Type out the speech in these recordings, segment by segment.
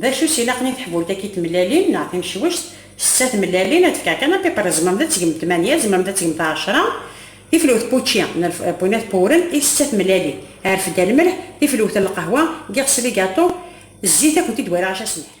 D acu i s-ilaqen i teḥbult-agi n tmellalin neɣ timecwect? Setta tmellalin, ad fkeɣ kan apiper, tzemremt ad tgemt tmanya, tzemremt ad tgemt ɛecra. Tiflwt n wučči n lpunat ppewren i setta tmellalin. Rfed-d lmelḥ, tiflwt n lqahwa, giɣ s ligaṭu, zzit ad kent-id-wariɣ acu ad s-nerr.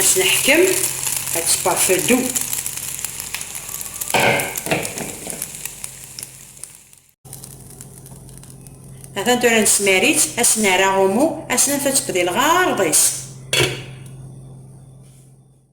As neḥkem ad tparfedu. Atan tura nesmar-itt, ad s-nerr aɣumu, ad s-naf ad tebdil ɣer ɣer-is.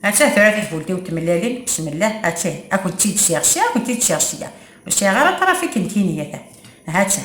Atta tura tafult-iw n tmellalin, bismillah, atta ad kent-id-siɣ ssya, ad kent-id-siɣ ssya. Ur sɛiɣ ara aṭrafik n tiniyat. Atta,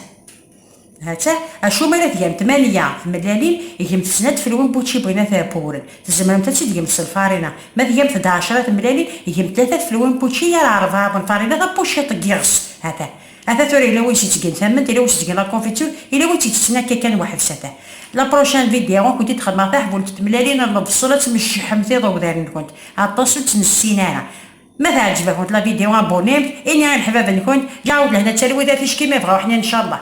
atta, acu mi ara tgamt manya tmellalin, gemt snat tfelwin n wučči bɣin ad t-buren. Tzemremt ad tt-id-gemt s lfarina. Ma tgamt-d ɛecra tmellalin, gemt tlata tfelwin n wučči yar rebɛa n lfarina tabuciṭ n yiɣes. Atta. Ata tura yella win s-ittgen tamment, yella win s-ittgen la confiture, yella win tt-ittetten akka kan weḥd-s ata. La prochaine vidéo ad kent-id xedmeɣ taḥbult n tmellalin n lebṣel ad tmecceḥemt iḍewdaren-nkent aṭas ur tt-nessin ara. Ma teɛǧeb-akent la vidéo abonné-mt, ini i leḥbab-nkent, ǧeɛɛu-d lehna d talwit ar ticki ma yebɣa uḥnin ncallah.